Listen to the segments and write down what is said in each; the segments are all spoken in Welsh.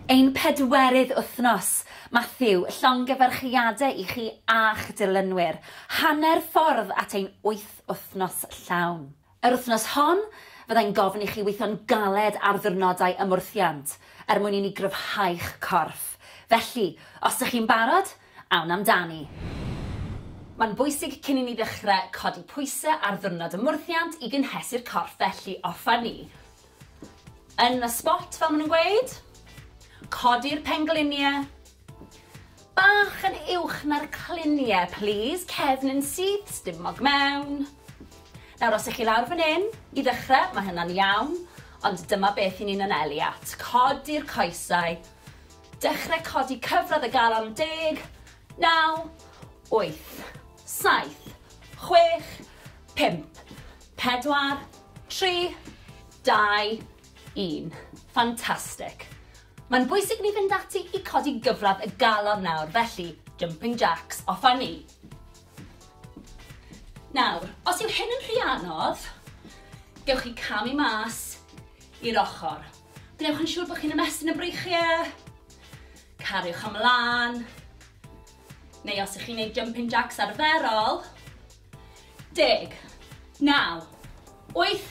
Ein pedwerydd wythnos! Matthew, llongyfarchiadau i chi a'ch dilynwyr. Hanner ffordd at ein wyth wythnos llawn. Yr wythnos hon, fyddai'n gofyn i chi weithio'n galed ar ddiwrnodau ymwrthiant, er mwyn i ni gryfhau'ch corff. Felly, os dych chi'n barod, awn amdani! Mae'n bwysig cyn i ni ddechrau codi pwysau ar ddiwrnod ymwrthiant i gynhesu'r corff felly, off â ni! Yn y spot fel ma' nhw'n gweud. Codi'r penglinie. Bach yn uwch na'r clinie plîs, cefn yn syth, stumog mewn. Nawr os 'ych chi lawr fan 'yn, i ddechre, ma' hynna'n iawn, ond dyma beth 'yn ni'n anelu at. Codi'r coesau. Dechre codi cyfradd y galon yn deg. Naw. Wyth. Saith. Chwech. Pump. Pedwar. Tri. Dau. Un. Fantastic. Mae'n bwysig ni fynd ati i codi gyfradd y galon nawr, felly jumping jacks, off a ni. Nawr, os yw hyn yn rhy anodd, gewch chi camu mas i'r ochr. Gwnewch yn siŵr bod chi'n ymestyn y breichiau, cariwch ymlaen, Neu os ych chi'n neud jumping jacks arferol, deg, naw, wyth,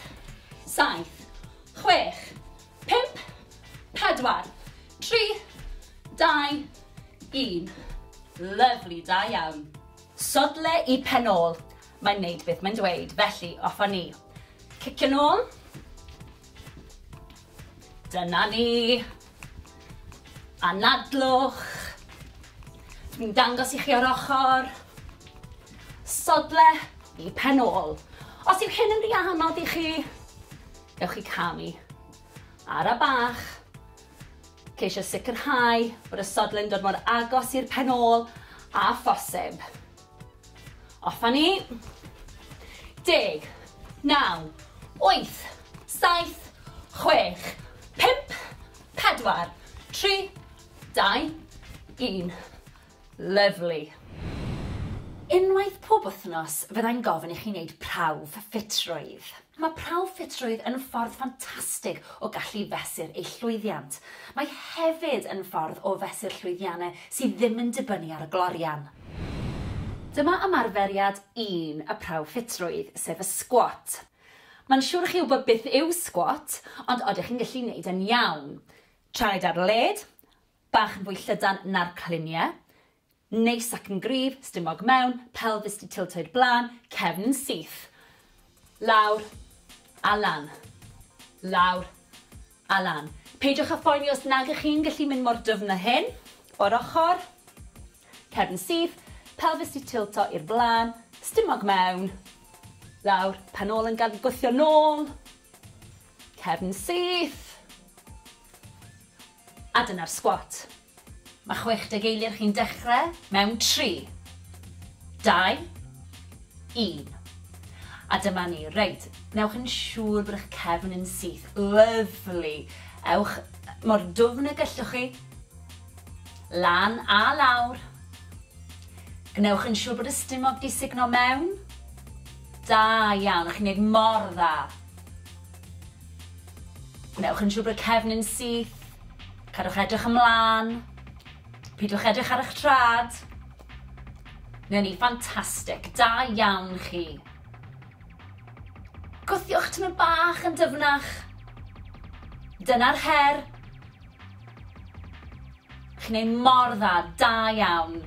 saith, chwech, pump, pedwar, tri, dau, un. Lyfli, da iawn. Sodle i pen ôl, mae'n neud beth mae'n dweud, felly off â ni. Cicio nôl. Dyna ni. Anadlwch. Dwi'n dangos i chi o'r ochr. Sodle i pen ôl. Os yw hyn yn rhy anodd i chi, gewch chi camu. Ara bach. Ceisio sicrhau bod y sodle'n dod mor agos i'r pen ôl a phosib. Off a ni. Deg. Naw. Wyth. Saith. Chwech. Pump. Pedwar. Tri. Dau. Un. Lyfli. Unwaith pob wythnos fyddai'n gofyn i chi wneud prawf ffitrwydd. Mae prawf ffitrwydd yn ffordd ffantastig o gallu fesur eich llwyddiant. Mae hefyd yn ffordd o fesur llwyddiannau sydd ddim yn dibynnu ar y glorian. Dyma ymarferiad un y prawf ffitrwydd, sef y sgwat. Mae'n siwr i chi wybod beth yw sgwat, ond odych chi'n gallu neud e'n iawn? Traed ar led, bach yn fwy llydan na'r cliniau, Neis ac yn gryf, stumog mewn, pelfis 'di tiltio i'r blaen, cefn yn syth. Lawr a lan. Lawr a lan. Peidiwch â phoeni os nag ych chi'n gallu mynd mor dyfn â hyn. O'r ochr. Cefn syth, pelfis 'di tilto i'r blaen, stumog mewn. Lawr, pen ôl yn gad gwthio nôl. Cefn syth. A dyna'r sgwat. Mae 60 eiliad chi'n dechrau mewn 3, 2, 1. A dyma ni. Reit, newch yn siŵr bod eich cefn yn syth. Lyfli. Ewch mor dwfn y gellwch chi. Lan a lawr. Gwnewch yn siŵr bod y stumog di sugno mewn. Da iawn, chi'n neud mor dda. Gwnewch yn siŵr bod y cefn yn syth. Cadwch edrych ymlaen. Pidwch edrych ar eich trad. Neu ni, ffantastig. Da iawn chi. Gwthiwch tymor bach yn dyfnach. Dyna'r her. Chi'n ei mor dda, da iawn.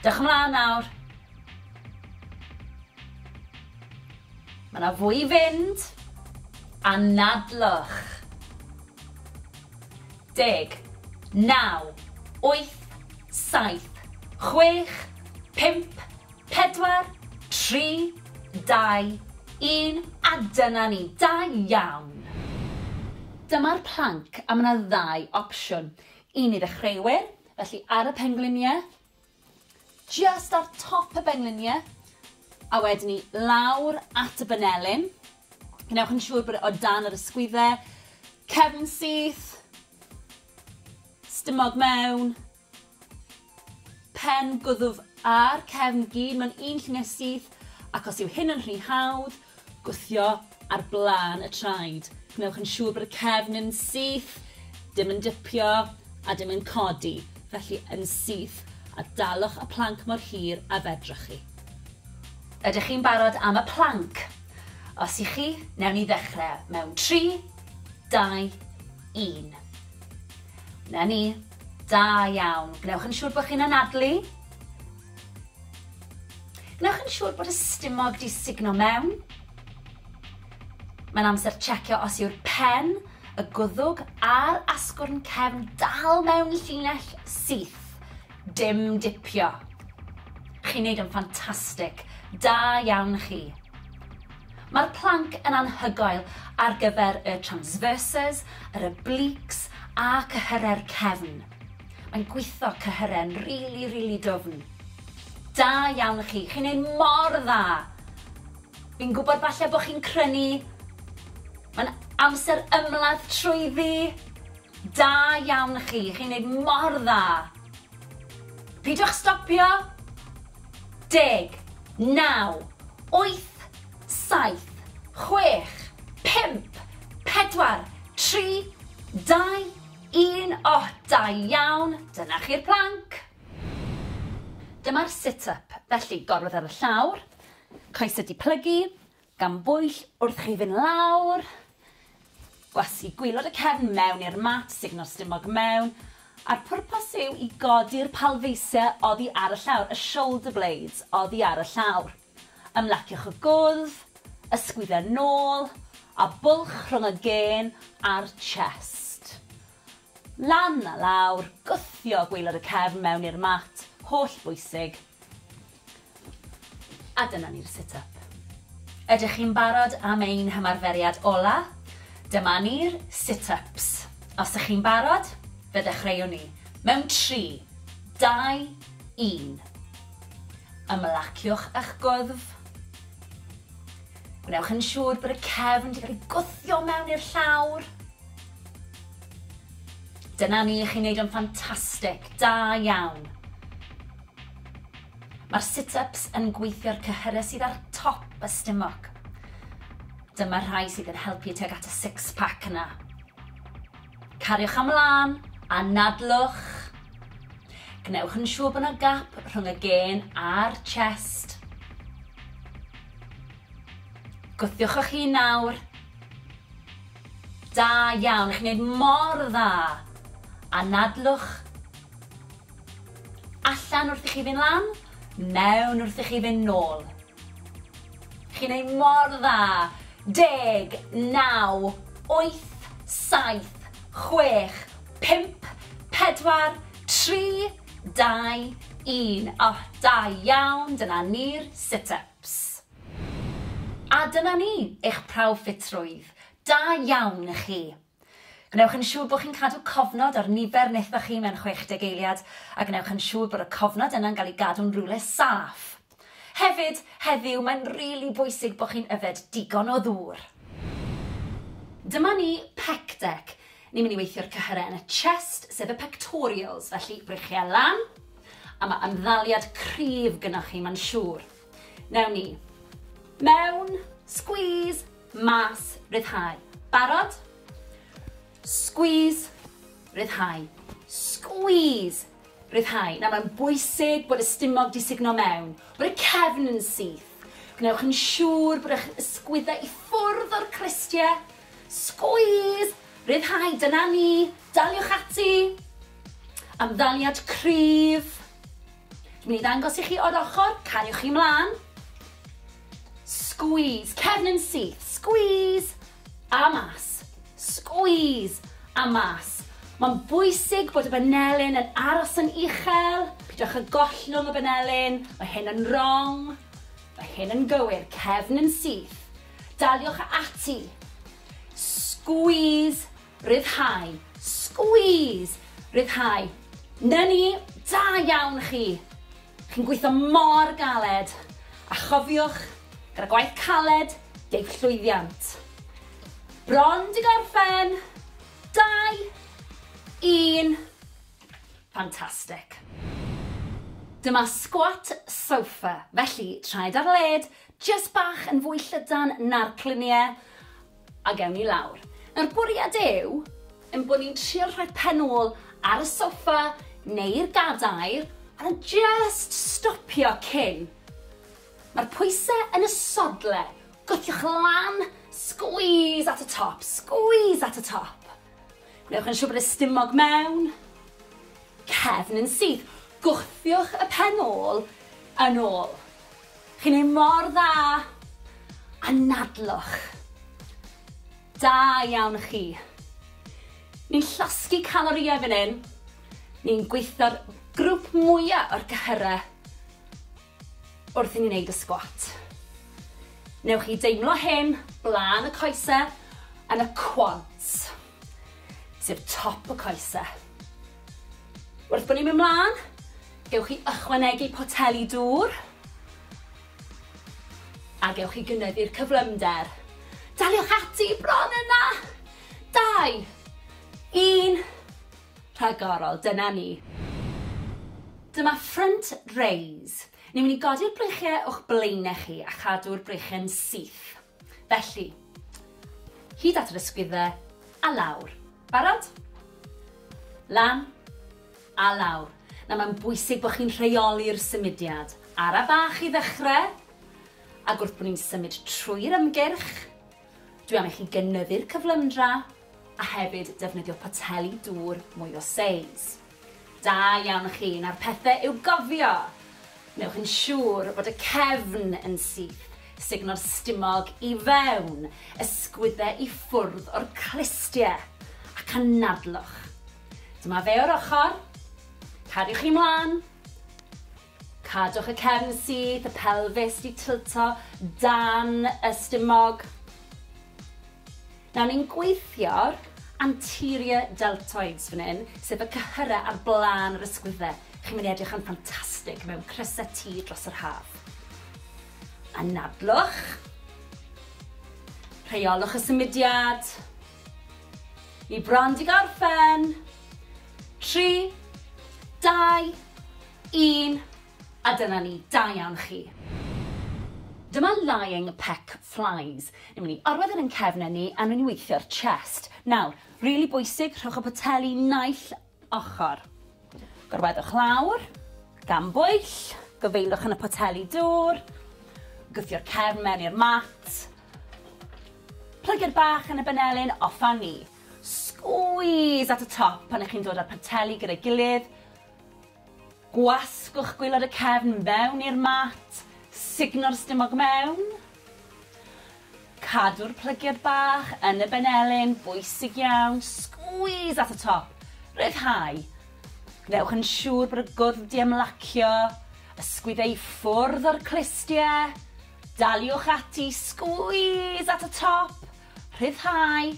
Dewch ymlaen nawr. Mae yna fwy i fynd. Anadlwch. Deg. Naw. Wyth. Saith. Chwech. Pump. Pedwar. Tri. Dau. Un. A dyna ni. Da iawn! Dyma'r planc a mae yna ddau opsiwn. Un i ddechreuwyr, felly ar y pengliniau, Jyst ar top y bengliniau a wedyn ni lawr at y banelin. Gwnewch yn siŵr bod e o dan yr ysgwyddau. Cefn syth. Stumog mewn. Pen gwddf a'r cefn gyd mewn un lluniau syth ac os yw hyn yn rhy hawdd, Gwthio ar blaen y traed. Gwnewch yn siŵr bod y cefn yn syth, dim yn dipio a dim yn codi, felly yn syth, a dalwch y planc mor hir a fedrwch chi. Ydych chi'n barod am y planc? Os y'ch chi, newn ni ddechrau mewn tri, dau, un. 'Na ni. Da iawn. Gwnewch yn siŵr bod chi'n anadlu. Gwnewch yn siŵr bod y stumog 'di sugno mewn. Mae'n amser checio os yw'r pen, y gwddwg a'r asgwrn cefn dal mewn llinell syth. Dim dipio. Chi'n neud yn ffantastig. Da iawn chi. Mae'r planc yn anhygoel ar gyfer y transverses, yr obliques a cyhyrau'r cefn. Mae'n gwitho cyhyren rili rili dwfn. Da iawn i chi, chi'n neud mor dda! Fi'n gwybod falle bod chi'n crynu, mae'n amser ymladd trwyddi! Da iawn i chi, chi'n neud mor dda! Pidwch stopio! Deg, naw, wyth, saith, chwech, pump, pedwar, tri, dau, Un oh da iawn! Dyna chi'r plank! Dyma'r sit up, felly gorwedd ar y llawr, coesau di plygu, gan bwyll wrth chi fynd lawr, gwasgu gwylod y cefn mewn i'r mat, sugno'r stumog mewn, a'r pwrpas yw i godi'r palfeisiau oddi ar y llawr, y shoulder blades oddi ar y llawr. Ymlaciwch y gwddf, ysgwyd a nôl, a bwlch rhwng y gên a'r chest. Lan a lawr, gwthio gwaelod y cefn mewn i'r mat, holl bwysig. A dyna ni'r sit up. Ydych chi'n barod am ein hymarferiad ola? Dyma ni'r sit ups. Os ych chi'n barod, fe ddechreuwn ni. Mewn tri, dau, un. Ymlaciwch â'ch gwddf. Gwnewch yn siŵr bod y cefn wedi cael ei gwthio mewn i'r llawr. Dyna ni, chi'n neud o'n ffantastig, da iawn. Mae'r sit-ups yn gweithio'r cyhyrau sydd ar top y stumog. Dyma'r rhai sydd yn helpu tuag at y six-pack yna. Cariwch am lân, anadlwch. Gwnewch yn siŵr bod yna gap rhwng y gên a'r chest. Gwthiwch o'ch hun nawr. Da iawn, chi'n gwneud mor dda. Anadlwch. Allan wrth i chi fynd lan, mewn wrth i chi fynd nôl. Chi'n neud mor dda! Deg, naw, wyth, saith, chwech, pump, pedwar, tri, dau, un. O, da iawn, dyna ni'r sit-ups. A dyna ni, eich prawf ffitrwydd. Da iawn i chi. Gwnewch yn siŵr bod chi'n cadw cofnod ar nifer nethoch chi mewn 60 eiliad, a gwnewch yn siŵr bod y cofnod yna'n cael ei gadw'n rywle saff. Hefyd, heddiw, mae'n rili bwysig bod chi'n yfed digon o ddŵr. Dyma ni, Pec Deck. Ni'n mynd i weithio'r cyhyrau yn y chest, sef y pectorials, felly brychia lan, a mae ymddaliad cryf gynnoch chi, mae'n siŵr. Wnewn ni. Mewn! Squeeze! Mas, ryddhau. Barod? Squeeze, ryddhau. Squeeze, ryddhau. Nawr mae'n bwysig bod y stumog di sugno mewn, bod y cefn yn syth. Gwnewch yn siŵr bod eich ysgwyddau i ffwrdd o'r crystiau. Squeeze, ryddhau, dyna ni, daliwch ati. Amddaliad cryf. Dwi'n mynd i ddangos i chi o'r ochr, cariwch chi mlaen. Squeeze, cefn yn syth, squeeze, a mas, squeeze, a mas. Mae'n bwysig bod y banelyn yn aros yn uchel, pidwch â gollwng y banelyn, mae hyn yn wrong, mae hyn yn gywir, cefn yn syth, daliwch ati, squeeze, Rhyddhau. Squeeze! Rhyddhau. 'Na ni! Da iawn chi! Chi'n gweithio mor galed! A chofiwch, gyda gwaith caled, deiff llwyddiant. Bron 'di gorffen! Dau! Un! Fantastic! Dyma squat sofa, felly traed ar led, jyst bach yn fwy llydan na'r clunie, A gewn ni lawr. Nawr bwriad yw ein bod ni'n trio rhoi pen ôl ar y soffa neu'r gadair a jyst stopio cyn. Mae'r pwysau yn y sodle, gwthiwch lan, squeeze at y top, squeeze at y top. Gwnewch yn siŵr bod y stumog mewn, cefn yn syth, gwthiwch y pen ôl yn ôl. Chi'n neud mor dda! Anadlwch. Da iawn chi. Ni'n llosgi calorïau fan hyn. Ni'n gweithio'r grwp mwya o'r cyhyrau wrth i ni neud y sgwat. Newch chi deimlo hyn blaen y coese yn y quads. sef top y coese. Wrth bod ni'n mynd mlaen, gewch chi ychwanegu poteli dŵr a gewch chi gynyddu'r cyflymder. Daliwch ati bron yna! Dau, un, rhagorol, dyna ni. Dyma front raise. Ni'n mynd i godi'r breichiau o'ch blaenau chi a chadw'r breichiau'n syth. Felly, hyd at yr ysgwyddau, a lawr. Barod? Lan, a lawr. Nawr mae'n bwysig bod chi'n rheoli'r symudiad. Ara bach i ddechrau, ac wrth bod ni'n symud trwy'r ymgyrch, dwi am i chi gynyddu'r cyflymdra, a hefyd defnyddio poteli dŵr mwy o seis. Da iawn chi, nawr pethe i'w gofio! Wnewch yn siŵr bod y cefn yn syth, sugno'r stumog i fewn, ysgwydde i ffwrdd o'r clustie, ac anadlwch. Dyma fe o'r ochr. Cariwch chi mlan. Cadwch y cefn syth, y pelfis 'di tilto dan y stumog. Nawr ni'n gweithio'r anterior deltoids fan hyn, sef y cyhyrau ar blaen yr ysgwydde. Chi'n mynd i edrych yn ffantastig mewn crysau T dros yr haf. Anadlwch. Rheolwch y symudiad. Ni bron 'di gorffen. Tri, dau, Un, a dyna ni, da iawn chi. Dyma lying peck flies. Ni'n mynd i orwedd e yn cefn a ni a ni'n mynd i weithio'r chest. Nawr, rili bwysig, rhowch y poteli naill ochr. Gorweddwch lawr, gan bwyll, gofeillwch yn y poteli dŵr, gwthio'r cefn mewn i'r mat, plygu'r bach yn y benelin, off a ni. Squeeze at y top pan ych chi'n dod â'r poteli gyda'i gilydd, Gwasgwch gwaelod y cefn fewn i'r mat, sugno'r stumog mewn. Cadw'r plygiad bach yn y benelin, bwysig iawn, squeeze at y top, rhyddhau. Gwnewch yn siŵr bod y gwddf 'di ymlacio, ysgwyd ei ffwrdd o'r clustie. Daliwch ati, squeeze at y top, Rhyddhau.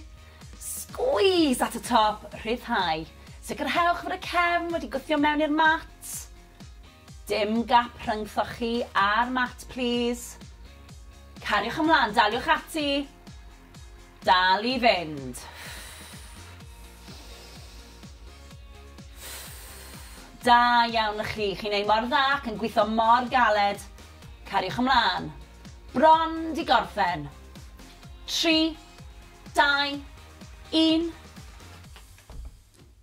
Squeeze at y top, rhyddhau. Sicrhewch fod y cefn wedi gwthio mewn i'r mat. Dim gap rhyngthoch chi a'r mat plîs. Cariwch ymlaen, daliwch ati. Dal i fynd. Da iawn chi, chi'n ei mor dda ac yn gwitho mor galed. Cariwch ymlaen. Bron 'di gorffen. Tri, dau, un.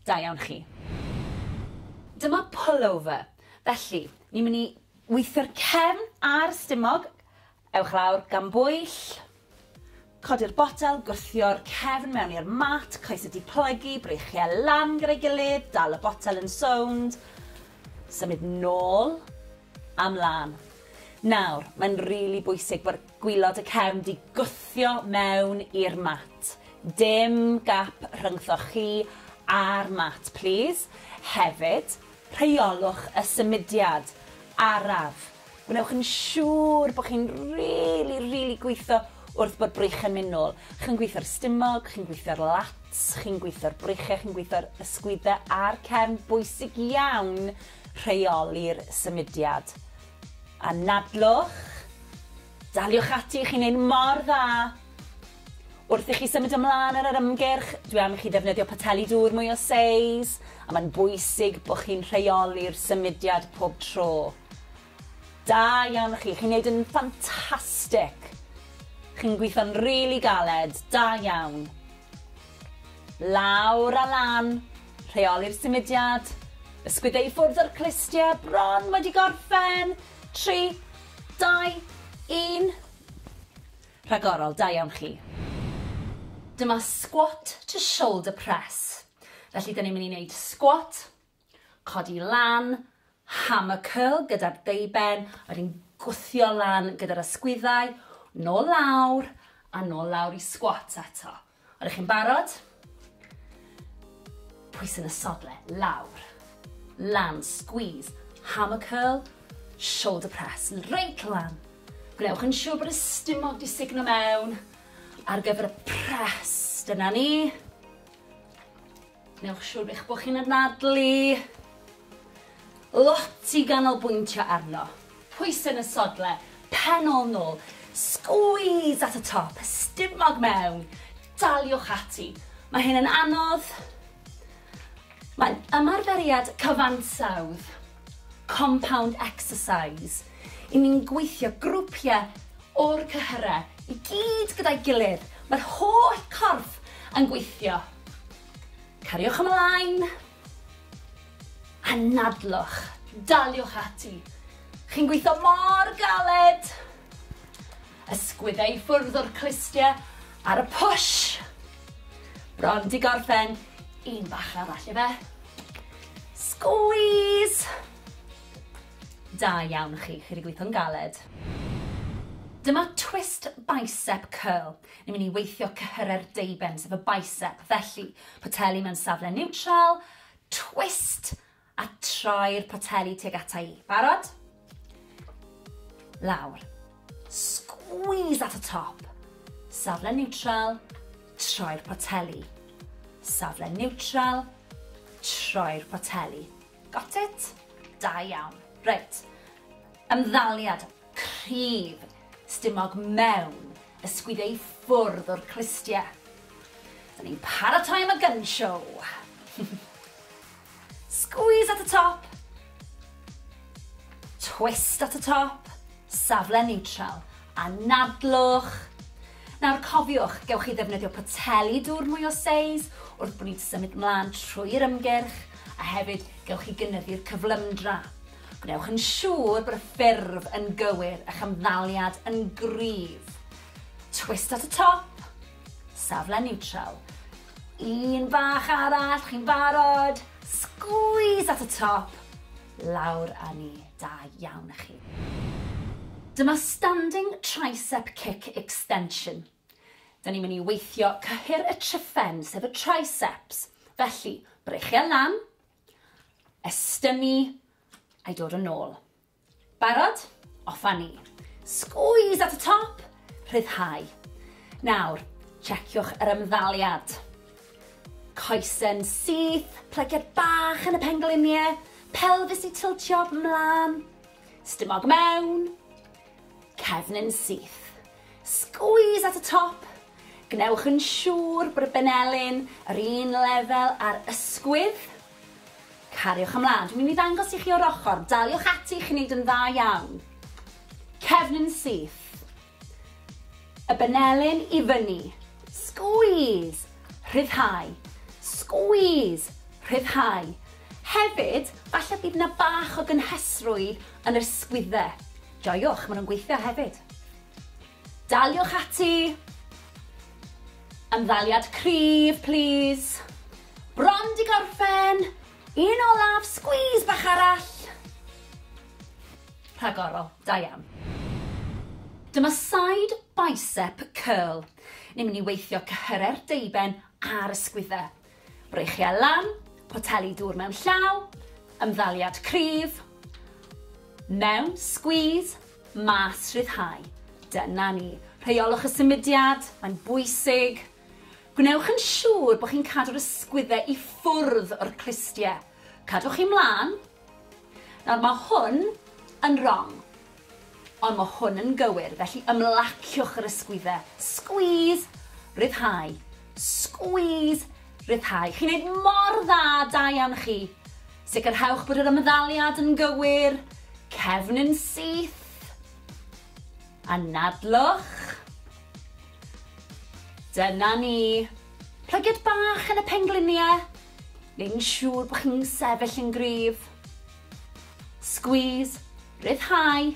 Da iawn chi. Dyma pullover. Felly, ni'n mynd i weithio'r cefn a'r stumog. Ewch lawr gan bwyll. Codi'r botel, gwthio'r cefn mewn i'r mat, coes y diplygu, breichiau lan gyda'i gilydd, dal y botel yn sownd, symud nôl a mlan. Nawr, mae'n rili bwysig bod gwylod y cefn 'di gwthio mewn i'r mat. Dim gap rhyngthoch chi a'r mat, plîs. Hefyd, rheolwch y symudiad araf. Gwnewch yn siŵr bod chi'n rili, rili gweithio wrth bod breichiau'n mynd nôl. Chi'n gweithio'r stumog, chi'n gweithio'r lats, chi'n gweithio'r breichiau, chi'n gweithio'r ysgwyddau a'r cefn. Bwysig iawn rheoli'r symudiad. Anadlwch, daliwch ati, chi'n neud mor dda! Wrth i chi symud ymlaen ar yr ymgyrch, dwi am i chi ddefnyddio poteli dŵr mwy o seis, a mae'n bwysig bod chi'n rheoli'r symudiad pob tro. Da iawn chi, chi'n neud yn ffantastic! Chi'n gweithio'n rili galed, da iawn! Lawr a lan, rheoli'r symudiad, ysgwydde i ffwrdd o'r clustie, bron wedi gorffen, tri, dau, un. Rhagorol, da iawn chi. Dyma squat to shoulder press. Felly dyn ni'n mynd i wneud squat, codi lan, hammer curl gyda'r deuben, wedyn gwthio lan gyda'r ysgwyddau, nôl lawr, a nôl lawr i squat eto. Ydych chi'n barod? Pwysyn y sodle, lawr, lan, squeeze, hammer curl, shoulder press, reit lan. Gwnewch yn siŵr bod y stumog di signo mewn ar gyfer y press. Dyna ni. Newch siŵr eich bod chi'n anadlu lot i ganolbwyntio arno. Pwysau yn y sodle, pen ôl nôl, squeeze at y top, stumog mewn, daliwch ati. Mae hyn yn anodd, mae'n ymarferiad cyfansawdd. Compound exercise, i ni'n gweithio grwpiau o'r cyhyrau i gyd gyda'i gilydd, mae'r holl corff yn gweithio. Cariwch ymlaen. Anadlwch, daliwch ati. Chi'n gweithio mor galed. Ysgwyddau i ffwrdd o'r clustiau ar y push. Bron 'di gorffen. Un bach arall ife. Squeeze! Da iawn chi, chi wedi gweithio'n galed. Dyma twist bicep curl. Ni'n mynd i weithio cyhyrau'r deiben, sef y bicep. Felly, poteli mewn safle niwtral, twist, A troi'r poteli tuag ata i. Barod? Lawr. Squeeze at y top. Safle niwtral, troi'r poteli. Safle niwtral, troi'r poteli. Got it? Da iawn. Reit. Ymddaliad cryf stumog mewn y sgwiddio i ffwrdd o'r clustiau. Da ni'n paratoi am y gun show. Squeeze at y top. Twist at y top. Safle niwtral. A nadlwch. Nawr cofiwch, gewch chi ddefnyddio poteli dŵr mwy o seis wrth bod ni'n symud mlaen trwy'r ymgyrch, a hefyd gewch chi gynyddu'r cyflymdra. Gwnewch yn siŵr bod y ffurf yn gywir, eich ymddaliad yn gryf. Twist at y top. Safle niwtral. Un bach arall, chi'n barod? Squeeze at y top, lawr a ni. Da iawn a chi. Dyma standing tricep kick extension. Da ni'n mynd i weithio cyhyr y triffen, sef y triceps. Felly, breichiau lan, estynnu, a'i dod yn ôl. Barod? Off a ni! Squeeze at y top! Rhyddhau. Nawr, checiwch yr ymddaliad. Coesyn syth, plygiad bach yn y pengliniau, pelfis i tiltio 'mlan, stumog mewn, cefn yn syth. Squeeze at y top! Gwnewch yn siŵr bod y benelin yr un lefel â'r ysgwydd. Cariwch ymlaen. Dwi'n mynd i ddangos i chi o'r ochr. Daliwch ati, chi'n neud yn dda iawn. Cefn yn syth. Y benelin i fyny. Squeeze. Rhyddhau. Squeeze. Rhyddhau. Hefyd, falle bydd yna bach o gynhesrwydd yn yr sgwydde. Joiwch, maen nhw'n gweithio hefyd. Daliwch ati! Ymddaliad cryf, plîs. Bron 'di gorffen! Un olaf, sgwîs bach arall! Rhagorol, da iawn. Dyma side bicep curl. Ni'n mynd i weithio cyhyrau'r deuben a'r ysgwyddau. Breichiau lan, poteli dŵr mewn llaw, ymddaliad cryf, mewn, squeeze, mas, rhyddhau. Dyna ni. Rheiolwch y symudiad, mae'n bwysig. Gwnewch yn siŵr bod chi'n cadw'r ysgwyddau i ffwrdd o'r clustiau. Cadwch chi mlaen, Nawr mae hwn yn rong. Ond mae hwn yn gywir, felly ymlaciwch yr ysgwydde. Squeeze, ryddhau. Squeeze, ryddhau. Chi'n neud mor dda, da iawn chi. Sicrhewch bod yr ymddaliad yn gywir. Cefn yn syth. Anadlwch. Dyna ni. Plygiad bach yn y pengliniau. neu'n siŵr bod chi'n sefyll yn gryf. Squeeze, rhyddhau,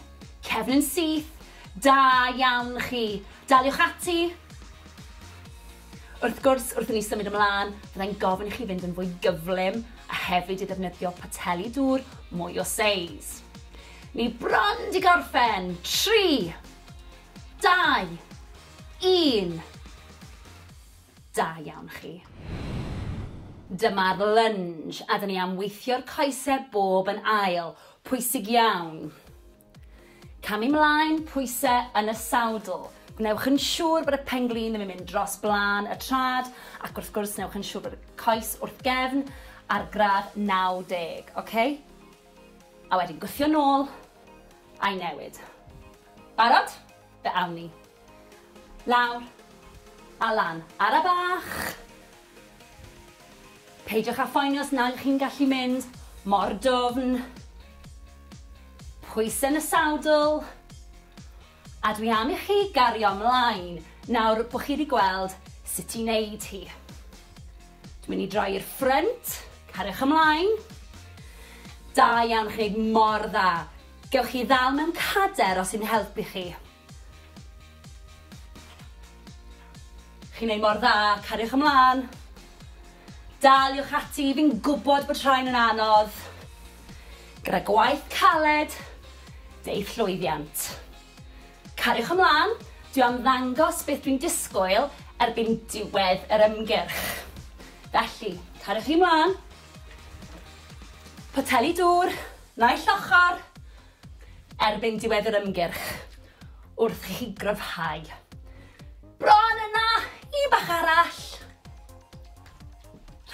cefn yn syth, da iawn chi. Daliwch ati. Wrth gwrs, wrth i ni symud ymlaen, byddai'n gofyn i chi fynd yn fwy gyflym a hefyd i ddefnyddio poteli dŵr mwy o seis. Ni bron di gorffen. 3, 2, 1. Da iawn chi. Dyma'r lunge a 'da ni am weithio'r coesau bob yn ail. Pwysig iawn. Camu mlaen, pwysau yn y sawdl. Gwnewch yn siŵr bod y pen-glin ddim yn mynd dros blaen y trad ac wrth gwrs newch yn siŵr bod y coes wrth gefn ar gradd 90, ok? A wedyn gwthio nôl a'i newid. Barod? Fe awn ni. Lawr. A lan. Ara bach! Peidiwch â phoeni os nag ych chi'n gallu mynd mor dwfn. Pwysau yn y sawdl. A dwi am i chi gario mlaen nawr bod chi wedi gweld sut i wneud hi. Dwi'n mynd i droi i'r ffrynt. Cariwch ymlaen. Da iawn, chi'n gwneud mor dda. Gewch chi ddal mewn cader os sy'n helpu chi. Chi'n neud mor dda, cariwch ymlan. Daliwch ati, fi'n gwbod bod rhain yn anodd. Gyda gwaith caled, deu'th llwyddiant. Cariwch ymlan, dwi am ddangos beth dwi'n disgwyl erbyn diwedd yr ymgyrch. Felly, cariwch chi mlan. Poteli dŵr, naill ochr. erbyn diwedd yr ymgyrch wrth i chi gryfhau. Bron yna! Un bach arall!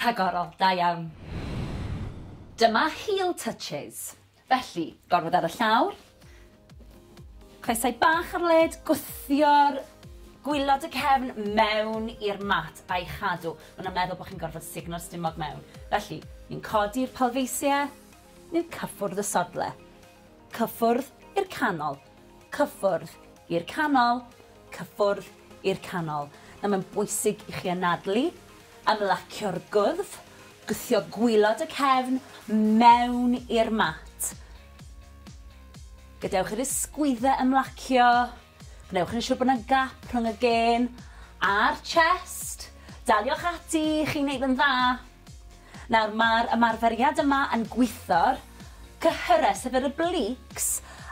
Rhagorol, da iawn. Dyma heel touches. Felly, gorfod ar y llawr, coesau bach ar led, gwthio'r gwylod y cefn mewn i'r mat a'i chadw. Mae'n meddwl bod chi'n gorfod sugno'r stumog mewn. Felly, ni'n codi'r palfeisiau, neu cyffwrdd y sodle, cyffwrdd i'r canol, cyffwrdd i'r canol, cyffwrdd i'r canol. Nawr mae'n bwysig i chi anadlu, ymlacio'r gwddf, gwthio gwylod y cefn mewn i'r mat. Gadewch i'r ysgwyddau ymlacio. Gwnewch yn siwr bod 'na gap rhwng y gên a'r chest. Daliwch ati, chi'n neud yn dda. Nawr, mae'r ymarferiad yma yn gwitho'r cyhyrau, sef yr obliques,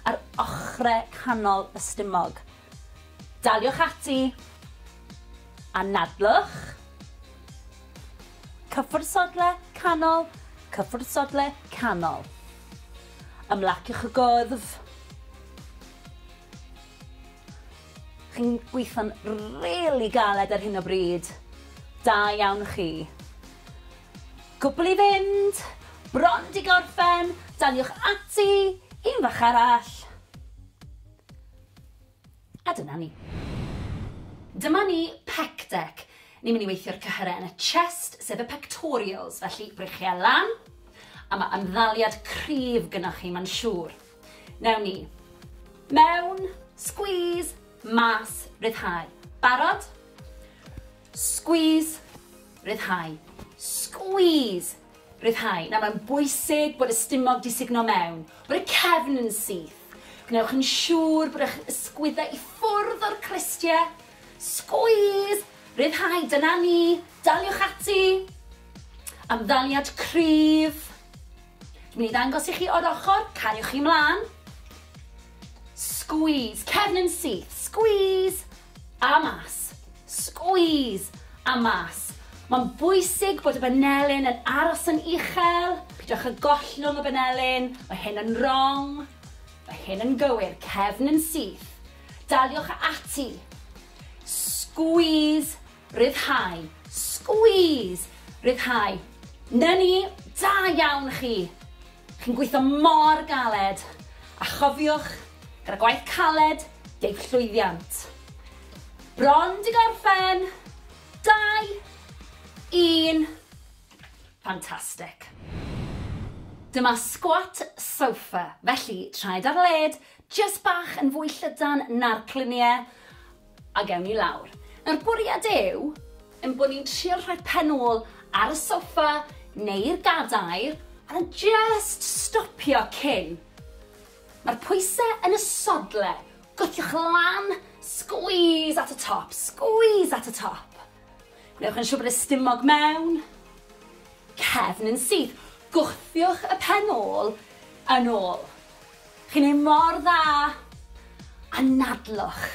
ar ochrau canol y stumog. Daliwch ati. Anadlwch. Cyffwrdd sodle, canol, cyffwrdd sodle, canol. Ymlaciwch y gwddf. Chi'n gweithio'n rili galed ar hyn o bryd. Da iawn chi. Cwpl i fynd, bron 'di gorffen, daliwch ati, un fach arall. A dyna ni. Dyma ni, pec dec. Ni'n mynd i weithio'r cyhyrau yn y chest, sef y pectorials, felly breichiau lan, a mae ymddaliad cryf gynoch chi, mae'n siŵr. Newn ni. Mewn, squeeze, mas, ryddhau. Barod? Squeeze, ryddhau. Squeeze, ryddhau. Nawr mae'n bwysig bod y stumog di sugno mewn, bod y cefn yn syth. Gwnewch yn siŵr bod eich ysgwyddau i ffwrdd o'r cristiau. Squeeze, ryddhau, dyna ni, daliwch ati. Amddaliad cryf. Dwi'n mynd i ddangos i chi o'r ochr, cariwch chi mlaen. Squeeze, cefn yn syth, squeeze, a mas. Squeeze, a mas. Mae'n bwysig bod y banelyn yn aros yn uchel, pidwch â gollwng y banelyn, mae hyn yn wrong, mae hyn yn gywir, cefn yn syth. Daliwch ati. Squeeze, Rhyddhau. Squeeze! Rhyddhau. 'Na ni! Da iawn chi! Chi'n gweithio mor galed! A chofiwch, gyda gwaith caled, deiff llwyddiant. Bron 'di gorffen! Dau! Un! Fantastic! Dyma squat sofa, felly traed ar led, jyst bach yn fwy llydan na'r clunie, Ac ewn ni lawr. Nawr, bwriad yw ein bod ni'n trio rhoi pen ôl ar y soffa neu'r gadair a jyst stopio cyn. Mae'r pwysau yn y sodle. Gwthiwch lan, squeeze at y top, squeeze at y top. Gwnewch yn siŵr bod y stumog mewn, cefn yn syth. Gwthiwch y pen ôl yn ôl. Chi'n neud mor dda! Anadlwch!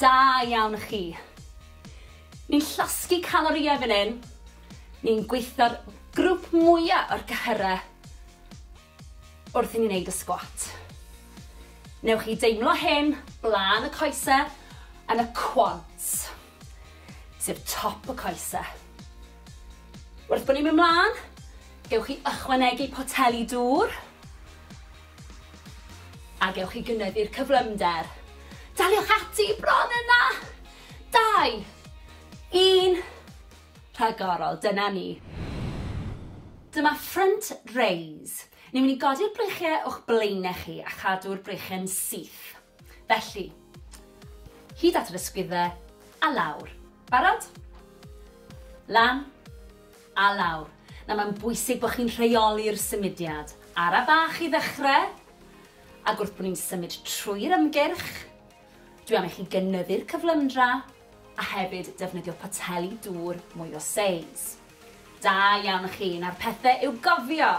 Da iawn chi! Ni'n llosgi calorïau fan hyn, ni'n gweithio'r grwp mwya o'r cyhyrau wrth i ni neud y sgwat. Newch chi deimlo hyn blaen y coese yn y quads. sef top y coese. Wrth bod ni'n mynd mlaen, gewch chi ychwanegu poteli dŵr a gewch chi gynyddu'r cyflymder. Daliwch ati bron yna! Dau, un, rhagorol, dyna ni. Dyma front raise. Ni'n mynd i godi'r breichiau o'ch blaenau chi a chadw'r breichiau'n syth. Felly, hyd at yr ysgwyddau, a lawr. Barod? Lan, a lawr. Nawr mae'n bwysig bod chi'n rheoli'r symudiad. Ara bach i ddechrau, ac wrth bod ni'n symud trwy'r ymgyrch, dwi am i chi gynyddu'r cyflymdra, a hefyd defnyddio poteli dŵr mwy o seis. Da iawn chi, nawr pethe i'w gofio!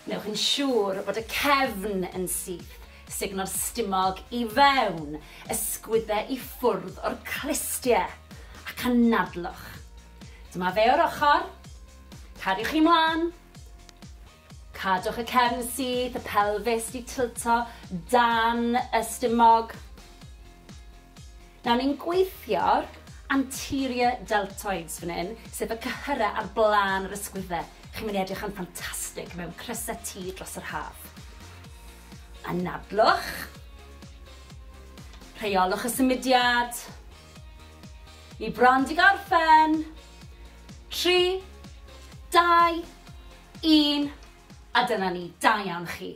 Wnewch yn siŵr bod y cefn yn syth, sugno'r stumog i fewn, ysgwydde i ffwrdd o'r clustie, ac anadlwch. Dyma fe o'r ochr, cariwch chi mlan, Cadwch y cefn syth, y pelfis 'di tilto dan y stumog. Nawr ni'n gweithio'r anterior deltoids fan hyn, sef y cyhyrau ar blaen yr ysgwyddau. Chi'n mynd i edrych yn ffantastig mewn crysau T dros yr haf. Anadlwch. Rheolwch y symudiad. Ni bron di gorffen. Tri, dau, Un, a dyna ni, da iawn chi.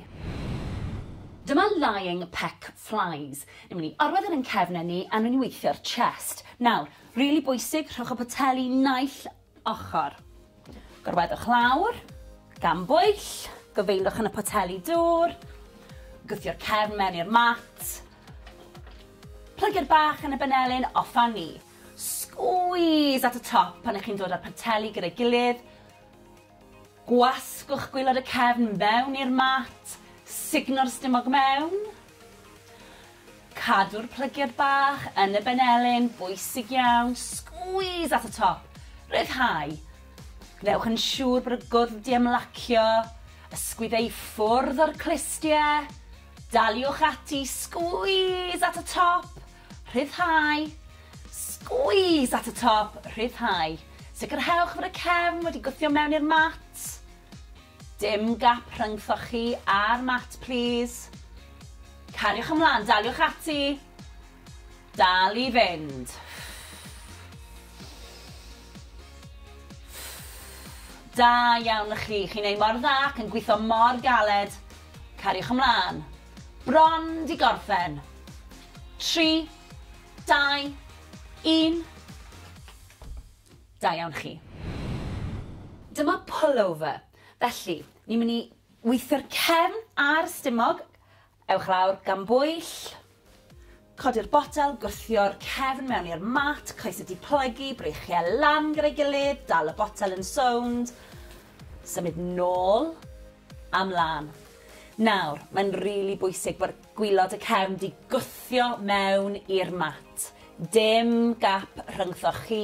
Dyma lying peck flies. Ni'n mynd i orwedd e yn cefnen ni a ni'n mynd i weithio'r chest. Nawr, rili bwysig, rhowch y poteli naill ochr. Gorweddwch lawr, gan bwyll, gofeindwch yn y poteli dŵr, gwthio'r cefn mewn i'r mat, plygu'r bach yn y benelin, off a ni. Squeeze at y top pan ych chi'n dod â'r poteli gyda'i gilydd, Gwasgwch gwaelod y cefn fewn i'r mat, sugno'r stumog mewn. Cadw'r plygiad bach yn y benelin, bwysig iawn, squeeze at y top, rhyddhau. Gwnewch yn siŵr bod y gwddf 'di ymlacio, ysgwyd ei ffwrdd o'r clustie. Daliwch ati, squeeze at y top, Rhyddhau. Squeeze at y top, rhyddhau. Sicrhewch fod y cefn wedi gwthio mewn i'r mat. Dim gap rhyngthoch chi a'r mat plîs. Cariwch ymlaen, daliwch ati. Dal i fynd. Da iawn chi, chi'n ei mor dda ac yn gwitho mor galed. Cariwch ymlaen. Bron 'di gorffen. Tri, dau, un. Da iawn chi. Dyma pullover. Felly, ni'n mynd i weithio'r cefn a'r stumog. Ewch lawr gan bwyll. Codi'r botel, gwthio'r cefn mewn i'r mat, coes y diplygu, breichiau lan gyda'i gilydd, dal y botel yn sownd, symud nôl a mlan. Nawr, mae'n rili bwysig bod gwylod y cefn 'di gwthio mewn i'r mat. Dim gap rhyngthoch chi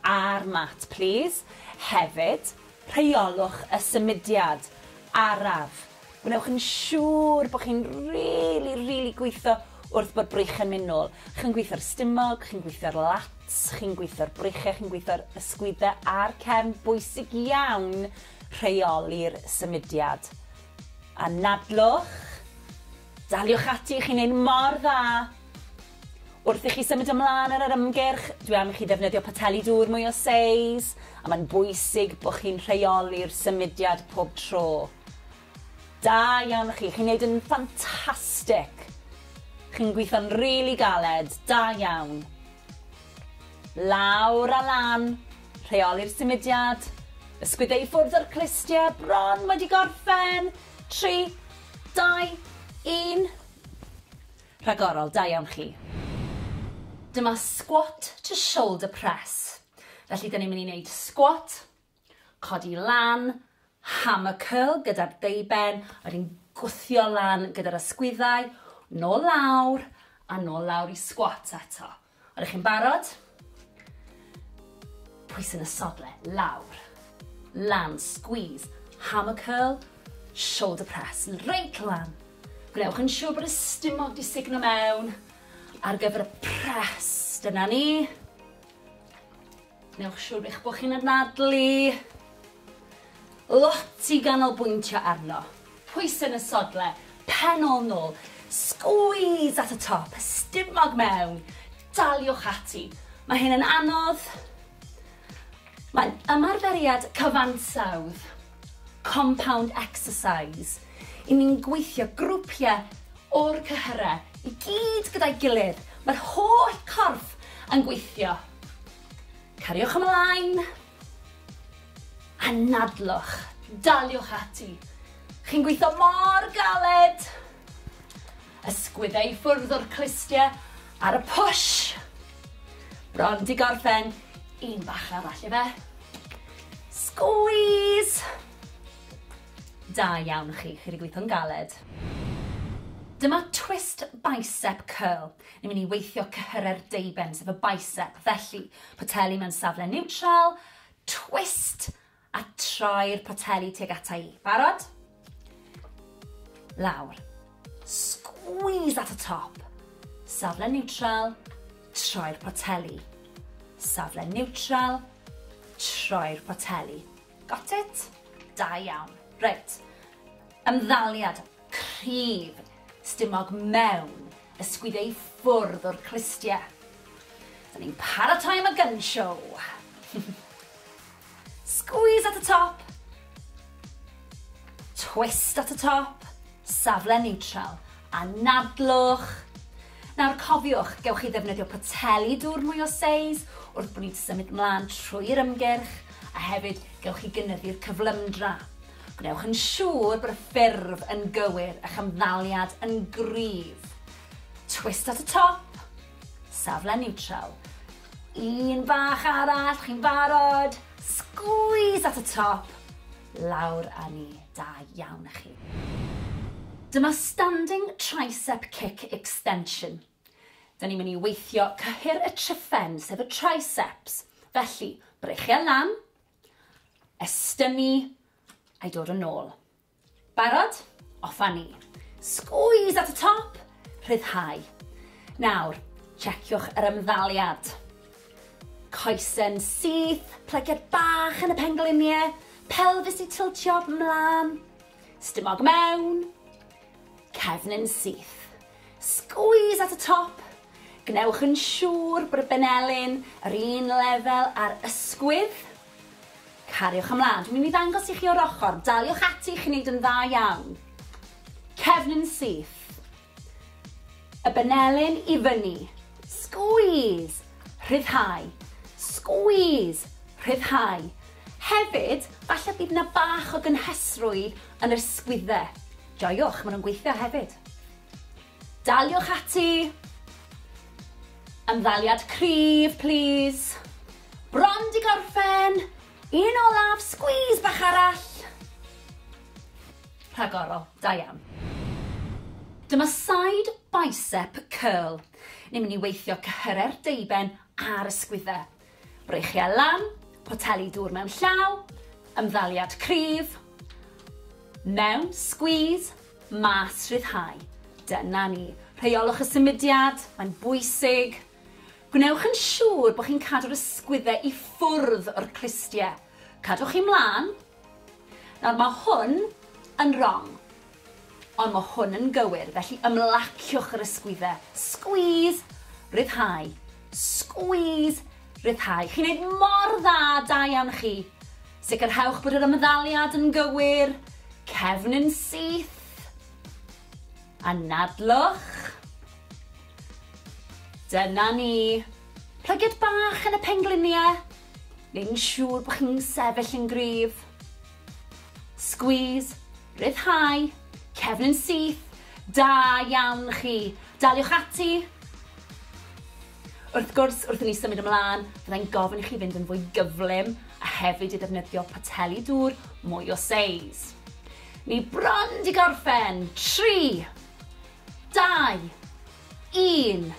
a'r mat, plîs. Hefyd, rheolwch y symudiad araf Gwnewch yn siŵr bod chi'n rili, rili gweithio wrth bod breichiau'n mynd nôl. Chi'n gweithio'r stumog, chi'n gweithio'r lats, chi'n gweithio'r breichiau, chi'n gweithio'r ysgwyddau a'r cefn. Bwysig iawn rheoli'r symudiad. Anadlwch, daliwch ati, chi'n neud mor dda! Wrth i chi symud ymlaen ar yr ymgyrch, dwi am i chi ddefnyddio poteli dŵr mwy o seis, a mae'n bwysig bod chi'n rheoli'r symudiad pob tro. Da iawn chi, chi'n neud yn ffantastic! Chi'n gweithio'n rili galed, da iawn! Lawr a lan, rheoli'r symudiad, ysgwydde i ffwrdd o'r clustie, bron wedi gorffen, tri, dau, un. Rhagorol, da iawn chi. Dyma squat to shoulder press. Felly dyn ni'n mynd i wneud squat, codi lan, hammer curl gyda'r deuben, wedyn gwthio lan gyda'r ysgwyddau, nôl lawr, a nôl lawr i squat eto. Ydych chi'n barod? Pwysyn y sodle, lawr, lan, squeeze, hammer curl, shoulder press, reit lan. Gwnewch yn siŵr bod y stumog di signo mewn ar gyfer y press. Dyna ni. Newch siŵr eich bod chi'n anadlu lot i ganolbwyntio arno. Pwysau yn y sodle, pen ôl nôl, squeeze at y top, stumog mewn, daliwch ati. Mae hyn yn anodd, mae'n ymarferiad cyfansawdd. Compound exercise, i ni'n gweithio grwpiau o'r cyhyrau i gyd gyda'i gilydd, mae'r holl corff yn gweithio. Cariwch ymlaen. Anadlwch. Daliwch ati. Chi'n gweithio mor galed. Ysgwyd e i ffwrdd o'r clustie ar y push! Bron 'di gorffen, un bach arall ife. Squeeze! Da iawn chi, chi 'di gweithio'n galed. Dyma twist bicep curl. Ni'n mynd i weithio cyhyrau'r deuben, sef y bicep, felly, poteli mewn safle niwtral, twist, A troi'r poteli tuag ata i. Barod? Lawr. Squeeze at y top. Safle niwtral, troi'r poteli. Safle niwtral, troi'r poteli. Got it? Da iawn. Reit. Ymddaliad cryf stumog mewn y sgwiddiau i ffwrdd o'r clustiau. Da ni'n paratoi am y gun show. Squeeze at y top. Twist at y top, safle niwtral, a nadlwch. Nawr cofiwch, gewch chi ddefnyddio poteli dŵr mwy o seis wrth bod ni'n symud mlaen trwy'r ymgyrch, a hefyd gewch chi gynyddu'r cyflymdra. Gwnewch yn siŵr bod y ffurf yn gywir, eich ymddaliad yn gryf. Twist at y top, safle niwtral. Un bach arall, chi'n barod? Squeeze at y top, lawr a ni. Da iawn a chi. Dyma standing tricep kick extension. Da ni'n mynd i weithio cyhyr y triffen, sef y triceps. Felly, breichiau lan, estynnu, a'i dod yn ôl. Barod? Off a ni! Squeeze at y top! Rhyddhau. Nawr, checiwch yr ymddaliad. Coesyn syth, plygiad bach yn y pengliniau, pelfis i tiltio mlaen, stumog mewn, cefn yn syth. Squeeze at y top, Gwnewch yn siŵr bod y benelin yr un lefel â'r ysgwydd. Cariwch ymlaen. Dwi'n mynd i ddangos i chi o'r ochr. Daliwch ati, chi'n neud yn dda iawn. Cefnyn syth. Y benelin i fyny. Squeeze. Rhyddhau. Squeeze. Rhyddhau. Hefyd, falle bydd na bach o gynhesrwydd yn yr sgwydde. Joiwch, ma' nhw'n gweithio hefyd. Daliwch ati! Ymddaliad cryf, plîs. Bron 'di gorffen! Un olaf, sgwîs bach arall! Rhagorol, da iawn. Dyma side bicep curl. Ni'n mynd i weithio cyhyrau'r deuben a'r ysgwyddau. Breichiau lan, poteli dŵr mewn llaw, ymddaliad cryf, mewn, squeeze, mas, rhyddhau. Dyna ni. Rheiolwch y symudiad, mae'n bwysig. Gwnewch yn siŵr bod chi'n cadw'r ysgwyddau i ffwrdd o'r clustiau. Cadwch chi mlaen, Nawr, mae hwn yn rong, ond mae hwn yn gywir, felly ymlaciwch yr ysgwyddau. Squeeze, rhyddhau, squeeze, rhyddhau. Chi'n neud mor dda, da iawn chi. Sicrhewch bod yr ymddaliad yn gywir, cefn yn syth. Anadlwch. Dyna ni. Plygiad bach yn y pengliniau. neu'n siŵr bod chi'n sefyll yn gryf. Squeeze, rhyddhau, cefn yn syth, da iawn chi. Daliwch ati. Wrth gwrs, wrth i ni symud ymlaen, fyddai'n gofyn i chi fynd yn fwy gyflym a hefyd i ddefnyddio poteli dŵr mwy o seis. Ni bron di gorffen. 3, 2, 1.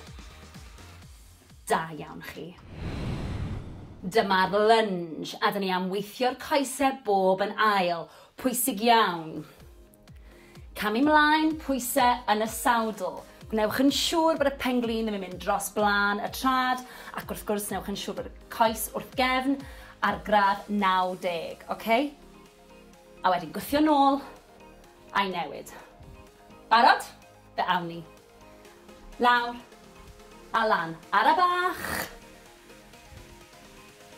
Da iawn chi. Dyma'r lunge a 'da ni am weithio'r coesau bob yn ail. Pwysig iawn. Camu mlaen, pwysau yn y sawdl. Gwnewch yn siŵr bod y pen-glin ddim yn mynd dros blaen y trad ac wrth gwrs newch yn siŵr bod y coes wrth gefn ar gradd 90, ok? A wedyn gwthio nôl a'i newid. Barod? Fe awn ni. Lawr. A lan. Ara bach!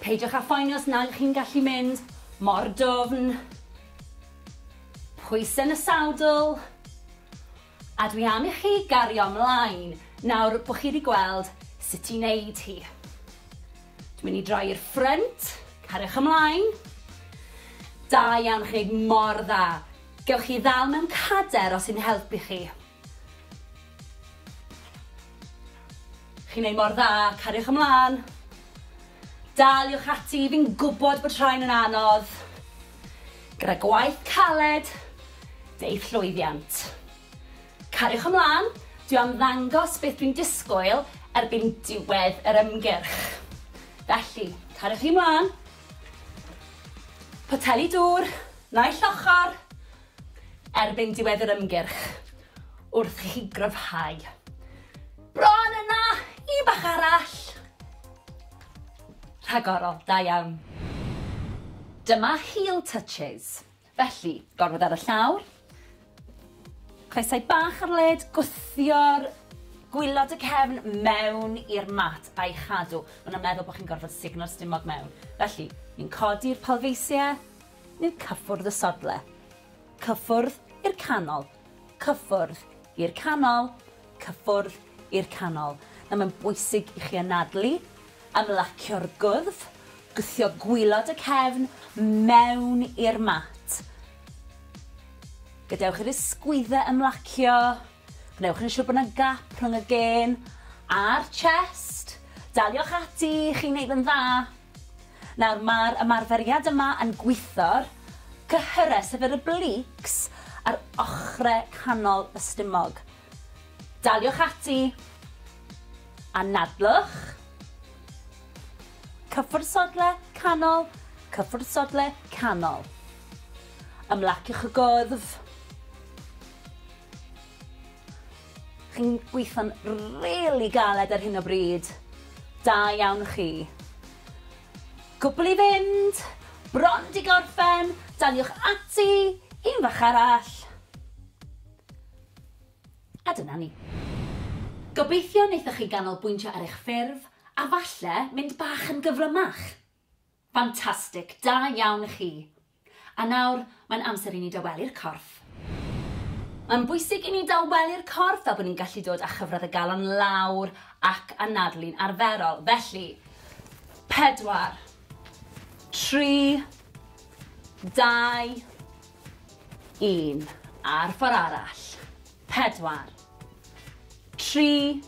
Peidiwch â phoeni os nag ych chi'n gallu mynd mor dwfn. Pwysau yn y sadl. A dwi am i chi gario mlaen nawr bod chi wedi gweld sut i wneud hi. Dwi'n mynd i droi i'r ffrynt. Cariwch ymlaen. Da iawn, chi'n gwneud mor dda. Gewch chi ddal mewn cader os sy'n helpu chi. Chi'n neud mor dda, cariwch ymlan. Daliwch ati, fi'n gwbod bod rhain yn anodd. Gyda gwaith caled, deu'th llwyddiant. Cariwch ymlan, dwi am ddangos beth dwi'n disgwyl erbyn diwedd yr ymgyrch. Felly, cariwch chi mlan. Poteli dŵr, naill ochr. erbyn diwedd yr ymgyrch wrth i chi gryfhau. Bron yna! Un bach arall! Rhagorol, da iawn. Dyma heel touches. Felly, gorwedd ar y llawr, coesau bach ar led, gwthio'r gwylod y cefn mewn i'r mat a'i chadw. Mae'n meddwl bod chi'n gorfod sugno'r stumog mewn. Felly, ni'n codi'r palfeisiau, neu cyffwrdd y sodle. Cyffwrdd i'r canol. Cyffwrdd i'r canol. Cyffwrdd i'r canol. Nawr mae'n bwysig i chi anadlu, ymlacio'r gwddf, gwthio gwylod y cefn mewn i'r mat. Gadewch i'r ysgwyddau ymlacio. Gwnewch yn siwr bod 'na gap rhwng y gên a'r chest. Daliwch ati, chi'n neud yn dda. Nawr, mae'r ymarferiad yma yn gwitho'r cyhyrau, sef yr obliques, a'r ochrau canol y stumog. Daliwch ati. Anadlwch. Cyffwrdd sodle, canol, cyffwrdd sodle, canol. Ymlaciwch y gwddf. Chi'n gweithio'n rili galed ar hyn o bryd. Da iawn chi. Cwbl i fynd, bron 'di gorffen, daliwch ati, un fach arall. A dyna ni. Gobeithio wnaethoch chi ganolbwyntio ar eich ffurf a falle mynd bach yn gyflymach. Ffantastig, da iawn chi! A nawr, mae'n amser i ni dawelu'r corff. Mae'n bwysig i ni dawelu'r corff fel bod ni'n gallu dod â chyfradd y galon lawr ac anadlu'n arferol. Felly, pedwar, tri, dau, un. A'r ffordd arall. Pedwar, tri,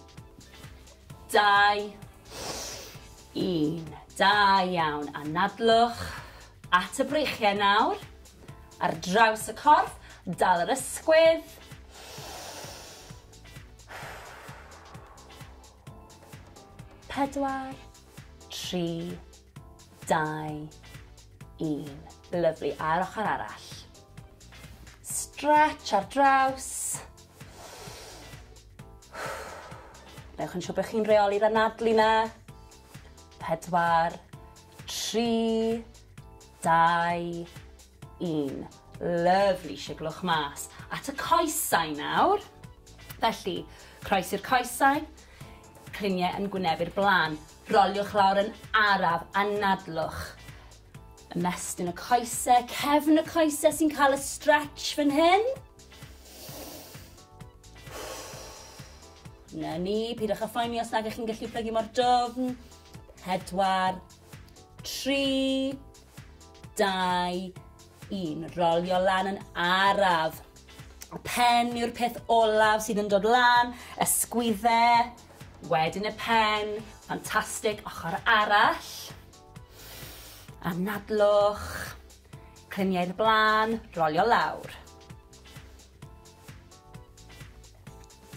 Dau, un. Da iawn. Anadlwch at y breichiau nawr. Ar draws y corff, dal yr ysgwydd. Pedwar, tri, dau, un. Lyflu. A'r ochr arall. Stretch ar draws. Newch yn siŵr bod chi'n reoli'r anadlu na. Pedwar, tri, dau, un. Lyfli, siglwch mas. At y coesau nawr. Felly, croes i'r coesau, cliniau yn gwynebu'r blaen. Roliwch lawr yn araf, anadlwch. Ymestyn y coesau, cefn y coesau sy'n cael y stretch fan hyn. Na ni, pidwch â phoeni os nag ych chi'n gallu plygu mor dofn. Pedwar, tri, dau, un. Rolio lan yn araf. Y pen yw'r peth olaf sydd yn dod lan, ysgwydde, wedyn y pen, ffantastig, ochr arall. Anadlwch, cliniau'r blaen, rolio lawr.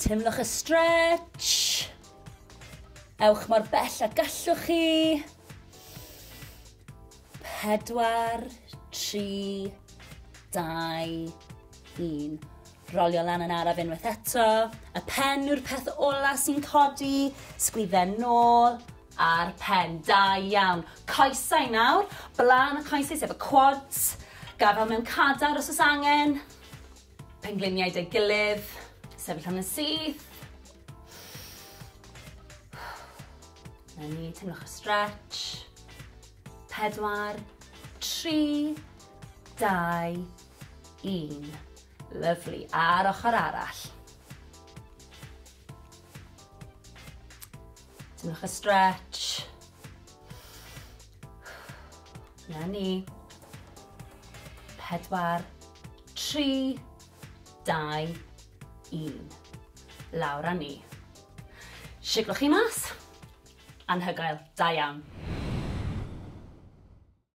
Teimlwch y stretch. Ewch mor bell a gallwch chi. Pedwar, tri, dau, un. Rolio lan yn araf unwaith eto. Y pen yw'r peth ola sy'n codi. Sgwydden nôl a'r pen. Da iawn. Coesau nawr. Blaen y coesau sef y quads. Gafel mewn cadar os oes angen. Pengliniau dei gilydd, sefyll am yn syth. Na ni, teimlwch y stretch. Pedwar, tri, dau, un. Lyflu, a'r ochr arall. Teimlwch y stretch. Na ni. Pedwar, tri, dau, un. Lawr a ni. Siglwch chi mas. Anhygoel. Da iawn.